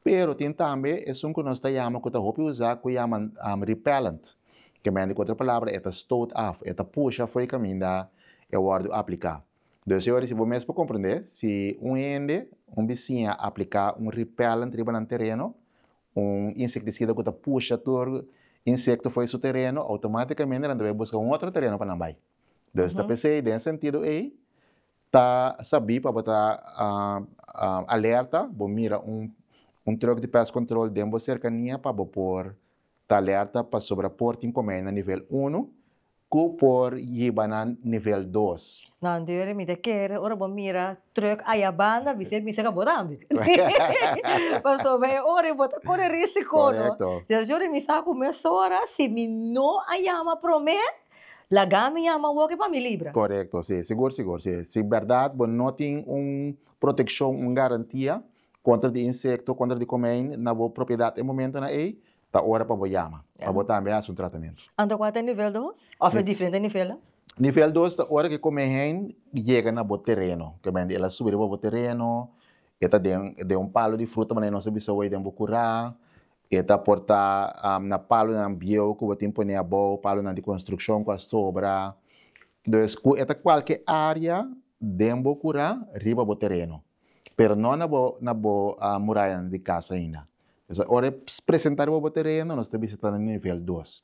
Pero tin tambe esun ku nos ta yama ku ta hopi usá ku yama repellent, ke mende ku otro palabra e ta stoot af, e ta pusha afoi kaminda e wòrdu apliká. Entonces e ora si bo mes por komprendé si un hende, un bisiña apliká un repellent riba nan tereno, un insektisida ku ta pusha tur insekto fo'i su tereno, outomátikamente nan ta bai buska un otro tereno pa nan bai. Entonces ta p'esei den e sentido ei ta sabí pa bo ta alerta, bo mira un truck di pest control den bo serkania pa bo por ta alerta pasobra por tin komei na nivel uno Cu por yiba nan nivel dos. Nan deur mi ta kere ora bo mira truck ayabanda mi ser misa ca bo tambe. Pasobra e ora bo ta core risico no. Correcto. Dor si ora mi sa cu mesora si mi no a yama prome laga mi yama awor ke pa mi libra. Correcto si sigur sigur si si berdad bo no tin un proteccion un garantia contra di insecto contra di comein na bo propiedad e momento na ey ta ora pa bo yama pa bo tambe hasi un tratamentu. Anto kua ta e nivel dos? Of e diferente nivelnan? Nivel dos ta ora ke kome heen yega na bo tereno, kobende el a subi riba bo tereno, e ta den den un palo di fruta manera nos a bisa hoy den bo kura, e ta por ta na palonan bieu ku bo tin pone abou, palonan di konstrukshon ku a sobra. Entonces ku e ta kualke área den bo kura riba bo tereno. pero no na bo na bo murayanan di kas ainda. P'esei ora e presentá riba bo tereno nos ta bisitando na nivel dos.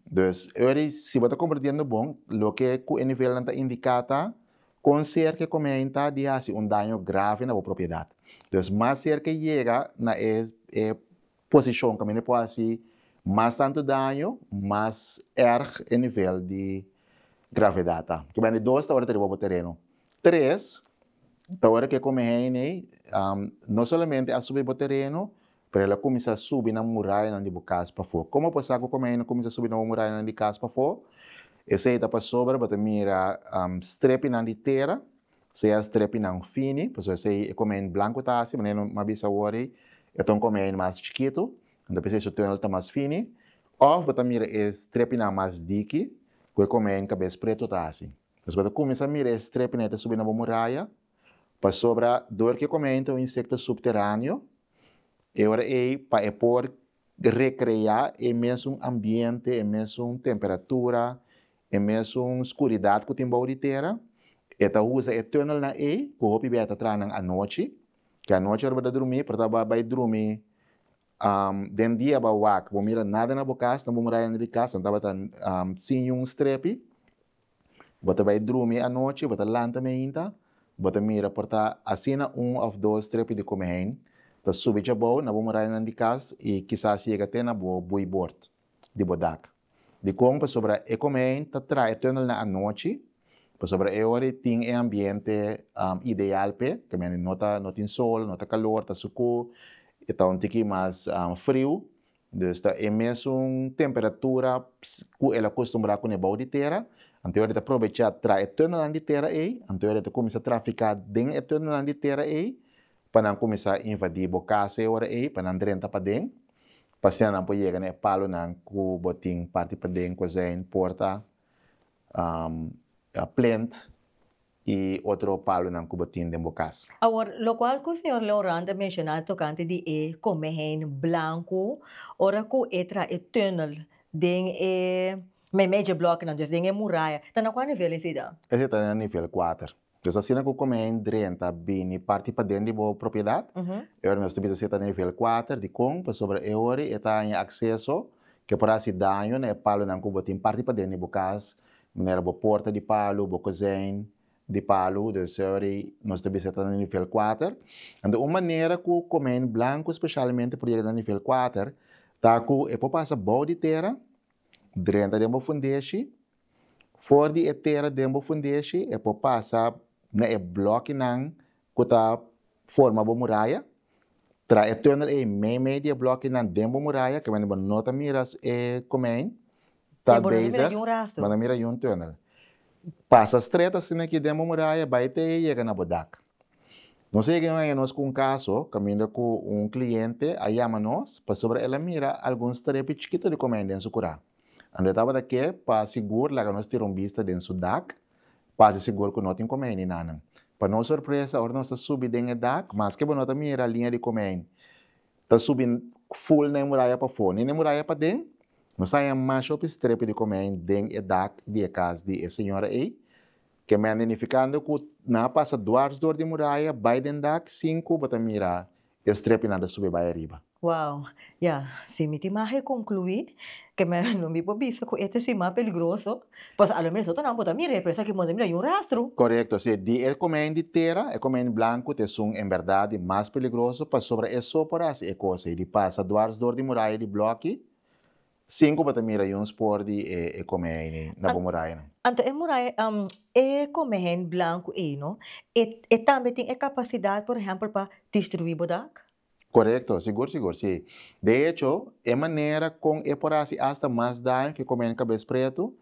Dus ora di si bo ta komprendiendo bon loke ku e nivelnan ta indiká ta kon serka e komentá di hasi un daño grave na bo propiedat. Dus mas serka e yega na e posishon ku mi no por hasi mas tantu daño mas erg e nivel di gravedat ta ku bende dos ta ora ta riba bo tereno tres ta ora ku e kome heine ei no solamente a subi bo tereno pero el a kuminsá subi na murayanan di bo kas pafó komo bo sa ku kome heine kuminsá subi na bo murayanan di kas pafó esei ta pasobra bo ta mira strepinan di tera. Sea strepinan fini, pasobra esei e come ein blanco ta haci, manera no a bisa awor ei, e ta un come ein mas chikitu, anto p'esei su tunnel ta mas fini, of bo ta mira e strepinan mas diki ku e come ein kabes pretu ta haci. Entonces bo ta kuminsá mira e strepinan e ta subi na bo muraya, pasobra dor ku e come ein ta un insekto supteraneo, e ora ei pa e por recrea e mesun ambiente, e mesun temperatura, e mesun scuridad cu tin bou di tera. E ta usa e tunnelnan ey cu hopi bey a ta traha nan anochi. Cu anochi ora bo ta drumi, por ta bo bay drumi, den dia bo a wak, bo mira nada na bo cas, na bo murayanan di cas, nan tabata sin niun strepi. Bo ta bai drumi anochi, bo ta lanta meinta, bo ta mira por ta asina un òf dos trepi di kome hein ta subi djabou na bo murayanan di kas i kisas yega te na bo buibord di bo dak. Dikon? Pasobra e kome hein ta traha e tunelnan anochi, pasobra e ora i tin e ambiente ideal p'e, ta no tin sol, no ta kalor, ta sukú, ta un tiki mas friu, Des ta e mesun temperatura ku el a kostumbrá kune bou di tera. Anto ora e ta probechá traha e tunanan di tera ei. Anto ora e ta kuminsá trafiká den e tunanan di tera ei pa nan kuminsá invadí bo kas e ora ei pa nan drenta paden pa asina nan por yega na e palonan ku bo tin parti paden, kozijn, porta, plènt. i otro palonan ku bo tin den bo kas. Awor, lokual ku señor Leurant a menshoná tokante di e kome hein blanku ora ku e traha e tunnel den e memejeblòknan, dus den e muraya, ta na kua nivel esei dan? Esei ta na nivel kuater. Dus asina ku kome hein drenta a bini parti paden di bo propiedat, e ora nos ta bisa esei ta na nivel kuater. Dikon? Pasobra e ora e ta haña akseso ke por hasi daño na e palonan ku bo tin parti paden di bo kas manera bo porta di palu, bo kozijn di palu, dus ory nos ta bisa ta na nivel kuater, enta un manera ku komijn blanku speshalmente por yega na nivel kuater ta ku e por pasa bou di tera, drenta den bo fundeshi, for di e tera den bo fundeshi e por pasa na e blokinan ku ta forma bo muraya. Traha e tunnel ei meimei di e blòkinan den bo muraya, ku bo no ta mira e komei. Talbezes bo no mira yun tunnel. Pasa strèt asina aki den bo muraya, bai te ei yega na bo dak. Nos a yega un aña nos ku un kaso kaminda ku un kliente a yama nos pasobra el a mira algun strepi chikito di komei den su kurá. Anto e tabata ke pa sigur laga nos tira un bista den su dak. Pasa sigur ku no tin komei ni nanan. Pa nos sorpresa, ora nos ta subi den e dak, maske bo no ta mira liña di komei ta subi ful na e muraya pafó ni na e muraya paden, nos haña masha hopi strepi di komei den e dak di e kas di e señora ei, kemende nifikando ku nan a pasa dwars dor di muraya, bai den dak sin ku bo ta mira I a strepi nan ta subi bai ariba. Wow. Ya, si mi tin mahe conclui, ke me lo mi por bisa cu e ta sin mas peligroso, pasobra a lo menos otro nan por ta mira e presa aki modo mira yu rastro. Corecto, si e di e comen di tera, e comen blanco, ta esun en berdad di mas peligroso, pasobra e so por haci e cosa ey di pasa dwars door di muraya di bloki, Sinku bo ta mira yuns por di e kome heini na bo murayanan. Anto e muraya, e kome heini blanku ei no, e tambe tin e kapasidat, por ehèmpel, pa destruí bo dak? Korekto, sigur sigur sí. De echo, e manera kon e por hasi asta mas daño ku e kome heini kabes pretu,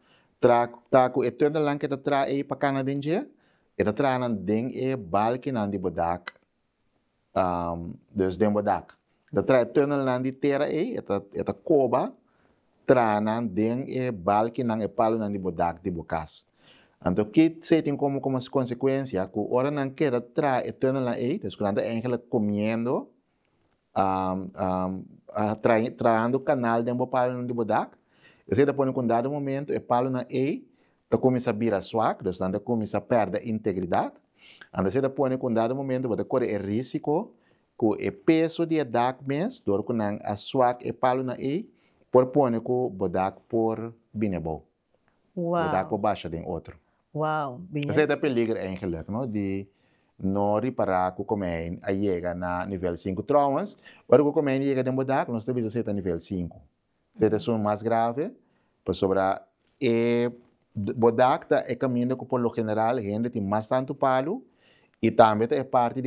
tra, ta ku e tuendelnan ku e ta traha ei pa kana den dje, e ta traha nan den e balkinan di bo dak. um, dus den bodak. Ta trae tunnelnan di tera ei, e ta, e ta koba tranan den e balkinan, e palunan di bodak di bo kas. Anto kit sei tin como como consecuencia ku ora nan keda trae e tunnelnan ei, dus ku nan ta eigenlijk comiendo, trahando kanal den bo palonan di bo dak, esei ta pone ku un dado momentu e palonan ei ta kuminsá bira swak, dus nan ta kuminsá pèrdè integridat, anto esei ta pone ku un dado momentu bo ta kore e rísiko ku e peso di e dak mes, dor ku nan a swak e palonan ei, por pone ku bo dak por bini abou. Lo ta cu basha den otro. Esey ta peliger eigenlijk no di no ripara cu comein a yega na nivel sinku. Trouwens ora cu comein yega den bo dak nos ta bisa esey ta nivel sinku. Esey ta esun mas grave pasobra e bo dak ta e caminda cu por lo general hende tin mas tantu palu y tambe ta e parti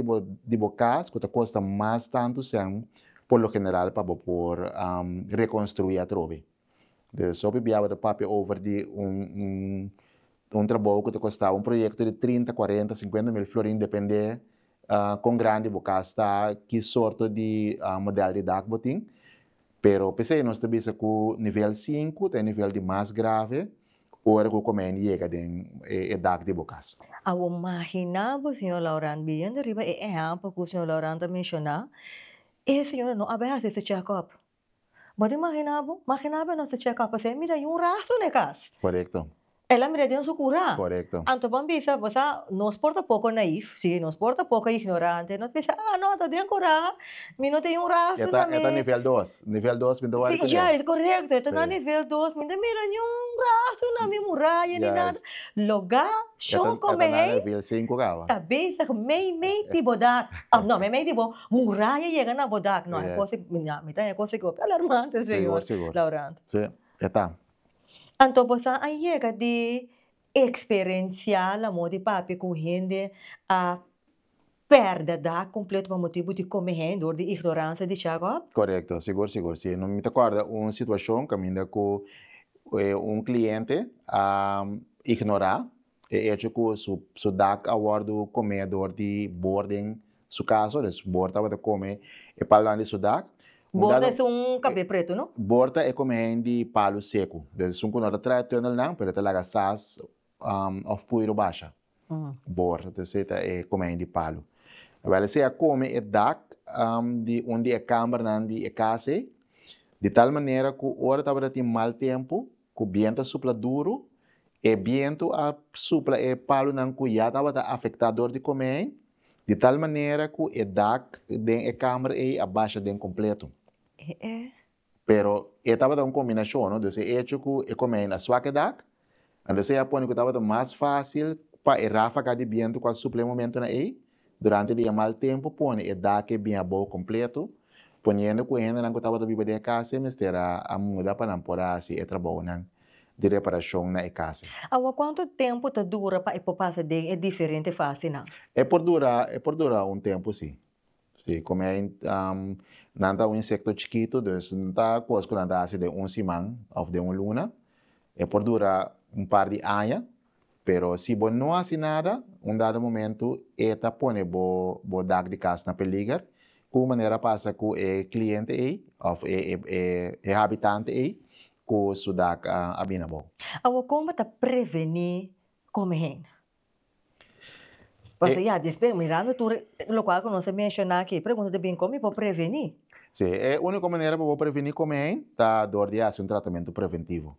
di bo cas cu ta custa mas tantu sen por lo general pa bo por reconstrui atrobe. Di esou biabiaba ta papia over di un trabou ku ta kostaba un proyekto di trinta, kuarenta, sinkuenta mil florin depende kon grandi bo kas ta, ki sorto di modèl di dak bo tin, pero p'esei nos ta bisa ku nivel sinku ta e nivel di mas grave ora ku komen yega den e dak di bo kas. A bo maginá bo señor Laurent, biniendo riba e ehèmpel ku señor Laurent ta menshoná, e señora no a bay hasi su chèkòp, Bo ta imagina bo? Magina bo e nos ta cheka op así, mira hay un rastro na e cas. Corecto. El a mira den su cura. Corecto. Anto bo a bisa, bo sa, nos por ta poco naïf, sí, nos por ta poco ignorante, nos bisa, ah, no, ta den cura, mi no tin hay un rastro na mi. E ta nivel dos, nivel dos mi ta wòrdu cu dje. Sí, corecto, e ta na nivel dos, mi no mira ni un rastro na mi muraya ni nada. Logá, shon con mi hei. E ta na nivel cinco caba. Ta bezig mei mei di bo dal, of no, mei mei di bo. Muraya yega na bo dak. No, e kosnan mi na mi ta e kosnan ku alarmante señor Laurent. Si, e ta. Anto bo sa a yega di eksperensiá lamon di papia ku hende a pèrdè dak kompleto pa motibu di kome hende dor di ignoransia di Jakob? Korekto, sigur sigur si. No mi ta kòrda un situashon kaminda ku un kliente a ignorá e echo ku su su dak a wòrdu komedor di bor den su kaso, dus bor tabata kome e palnan di su dak. Bor ta esun kapé pretu, no? Bor ta e kome hen di palu seku, dus esun ku no ta traha e tùnelnan pero e ta laga sas òf puiru basha. Bor dus e ta e kome hen di palu. Wel esei a kome e dak di un di e kàmbernan di e kas ei, di tal manera ku ora tabata tin mal tempu, Ku bientu a supla duru, e bientu a supla e palunan ku ya tabata afektá dor di komei, di tal manera ku e dak den e kamer ei a basha den kompletu. Pero e tabata un kombinashon, no? Dus e echo ku e komei na swak e dak, anto esei a pone ku tabata mas fásil pa e ráfaga di bientu ku a supla e momentunan ei, Durante di e mal tempu pone e dak'e bin abou kompletu, poniendo ku e hendenan ku tabata biba den e kasa ei mester a muda pa nan por a hasi e trabounan di reparashon na e kasa. Awa kuantu tempu ta dura pa e por pasa den e diferente fasinan? E por dura e por dura un tempu si. Si, kome nan ta un insekto chikitu dus no ta kos ku nan ta hasi den un siman òf den un luna. E por dura un par di aña Pero si bo no hasi nada, un dado momento e ta pone bo bo dak di kas na peliger, ku un manera a pasa ku e kliente ei òf e e e habitante ei ku su dak a a bini abou? Awo kon bo ta prevení kome hen? Pasobra ya despues mirando tur lokual ku nos a menshoná aki, e pregunta ta bin kon mi por prevení? Sí, e úniko manera pa bo prevení kome hen ta dor di hasi un tratamentu preventivo.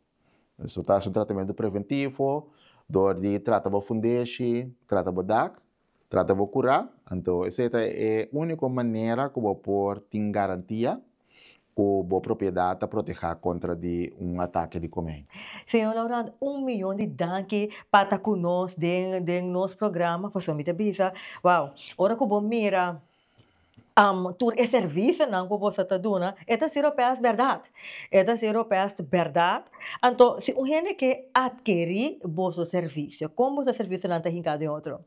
Esaki ta hasi un tratamentu preventivo dor di trata bo fundeshi, trata bo dak, trata bo kura. Anto esei ta e úniko manera ku bo por tin garantia ku bo propiedat ta protehá kontra di un atake di komei. Señor Laurent, un miyon di danki pa ta ku nos den nos programa pasobra mi ta bisa, wow, ora ku bo mira tur e servisionan ku boso ta duna e ta sirba pa e as bèrdat, e ta sirba pa e as bèrdat, anto si un hende ke adkerí boso servisio kon boso servisionan ta hinká den otro?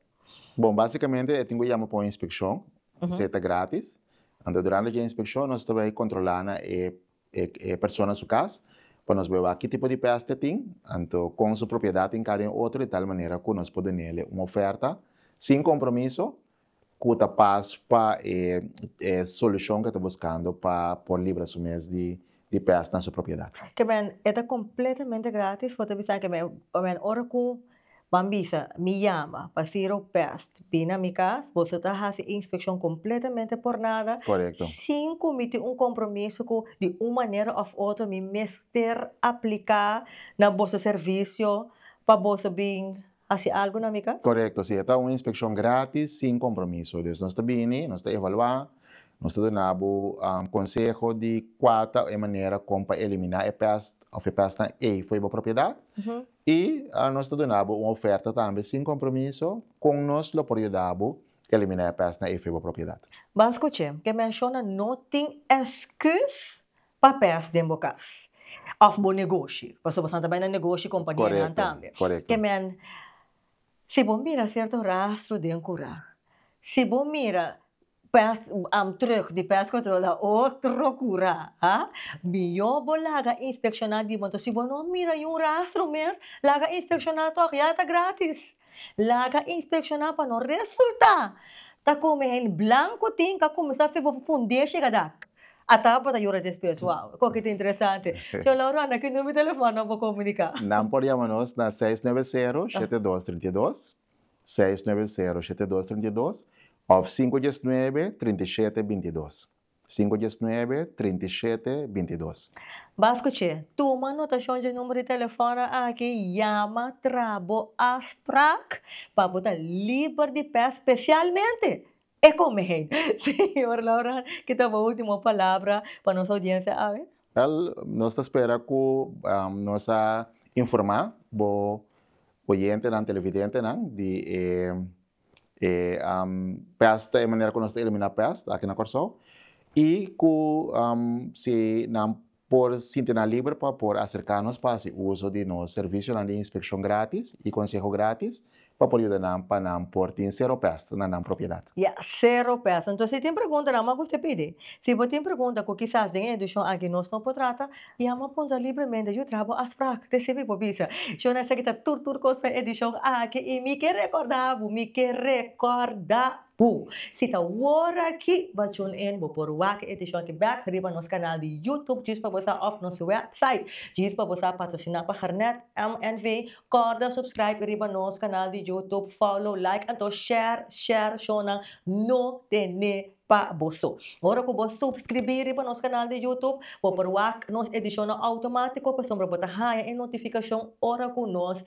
Bon, básikamente e tin ku yama pa un inspekshon, esei ta grátis, anto durante dje inspekshon nos ta bai kontrolá na e e persona su kas pa nos bai wak ki tipo di pèste e tin, anto kon su propiedat hinká den otro di tal manera ku nos por dun'é un ofèrta sin kompromiso Ku ta pas pa e e solushon ku e ta buskando pa por libra su mes di di pes na su propiedat. Kemen, e ta kompletamente gratis, bo ta bisa kemen, kemen ora ku ban bisa mi yama pa Zero Pest bini na mi kas, boso ta hasi inspekshon kompletamente por nada, Korekto. sin ku mi tin un kompromiso ku di un manera òf otro mi mester apliká na boso servisio pa boso bin hasi algu na mi kas? Korekto, si e ta un inspekshon grátis, sin kompromiso. Dus nos ta bini, nos ta evaluá, nos ta duna bo konseho di kua ta e manera kon pa eliminá e pèst òf e pèstnan ei fo'i bo propiedat i nos ta duna bo un ofèrta tambe sin kompromiso kon nos lo por yuda bo eliminá e pèstnan ei fo'i bo propiedat. Ban skuch'é, ke menshona no tin èsküs papes den bo cas of bo negoshi pasobra bo sa ta bai na negoshi y compania nan tambe kemen si bo mira cierto rastro den cura si bo mira pes terug di pes control na otro cura a mijo bo laga inspecciona di bo entonces si bo no mira y un rastro mes laga inspecciona tog ya ta gratis Laga inspekshoná pa no resultá ta kome hende blanku tin ka kuminsá fibo fu fundé shigadak. Ataba bo ta yora despues, wow, kon ke ta interesante. Shon Lauro Anda ki numero di telefòn nan por komuniká. Nan por yama nos na seis nuebe sero shete dos trinta i dos, seis nuebe sero shete dos trinta i dos òf sinku diesnuebe trinta i shete binti dos. Sinku djes nuebe, trinta i shete, binti dos. Bas kuch'é, tuma notashon dje number di telefona aki, yama tra bo afsprak pa bo ta liber di pes, spesialmente e komein. Señor Laurent, ki ta bo ultimo palabra pa nos oudiensia awe? Wèl, nos ta spera ku nos a informá bo oyentenan, televidentenan di e. e pèst ta e manera ku nos ta eliminá pèst aki na Kòrsou i ku si nan por sinti nan liber pa por aserká nos pa hasi uso di nos servisionan di inspekshon grátis i konseho grátis pa por yuda nan pa nan por tin sero pèst na nan propiedat. Ya, sero pèst. Anto si tin preguntanan, mau ku usted pidi. Si bo tin pregunta ku kisas den e edishon aki nos no por trata, I amo a puntra libremente, Yu traha bo a sprak? Te sibi bo bisa, Shon a esaki ta tur tur kos pa e edishon aki i mi ke rekorda bo, mi ke rekorda bo. Si ta wor aki, bo tune in, bo por wak e edishon aki bek riba nos kanal di Youtube djis pa bo sa òf nos wèpsait djis pa bo sa patrosiná pa Hernèt MNV. Kòrda supskraip riba nos kanal di Youtube, fòlo, laik anto share, share, Shonnan no ten'é pa boso. Ora ku bo supskribí riba nos kanal di YouTube, bo por wak nos edishonnan outomátiko pasobra bo ta haña e notifikashon ora ku nos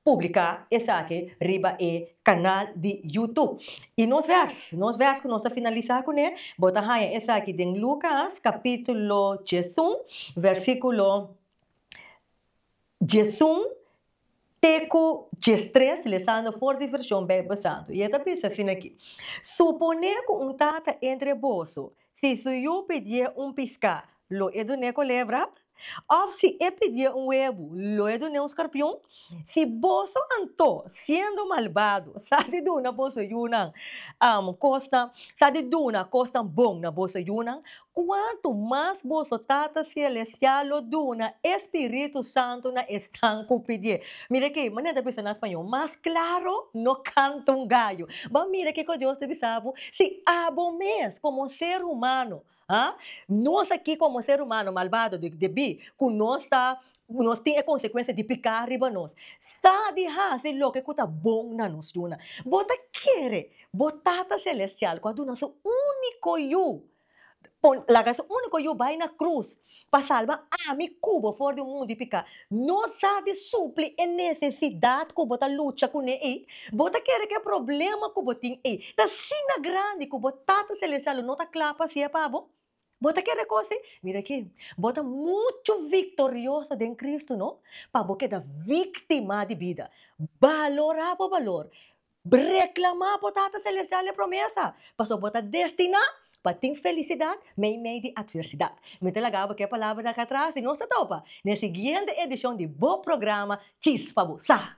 publiká esaki riba e kanal di YouTube. I nos vèrs, nos vèrs ku nos ta finalisá kuné, bo ta haña esaki den Lukas kapítulo djiesun, vèrsíkulo. Djesun te ku djestres lesando for di vershon Beibel Santu, i e ta bisa sin aki, Suponé ku un tata entre e boso, si su yu pidié un piská, lo e dun'é kolebra? Òf si e pidié un webu, lo e dun'é un skorpion? Si boso anto, siendo malbado, sa di duna boso yunan kosnan, sa di duna kosnan bon na boso yunan, Cuantu mas boso Tata Celestial lo duna e Spiritu Santu na esnan cu pidié. Mira aki, manera ta bisa na Spañol, Mas claro no canta un gallo. Bo mira kico Dios ta bisa bo, Si abo mes, como ser humano, ah, nos aki como ser humano malvado di, debí, cu nos ta, cu nos tin e consecuencia di picá riba nos, sa di haci loke cu ta bon na nos duna. Bo ta kere bo Tata Celestial, cu a duna su único Yu, Laga su úniko Yu bai na krus pa salba ami ku bo for di un mundu di piká. No sa di supli e nesesidat ku bo ta lucha kuné ei. Bo ta kere ku e problema ku bo tin ei ta asina grandi ku bo Tata Selestial lo no ta kla pa hasié pa bo? Bo ta kere ku si? Mira aki, bo ta muchu viktorioso den Kristu no pa bo keda víktima di bida. Balorá bo balor. Reklamá bo Tata Selestial e promesa, pasobra bo ta destiná pa tin felisidat meimei di atversidat. Mi ta laga bo k'e palabra akí atras i nos ta topa na e siguiente edishon di bo programa Chispa bo Sa!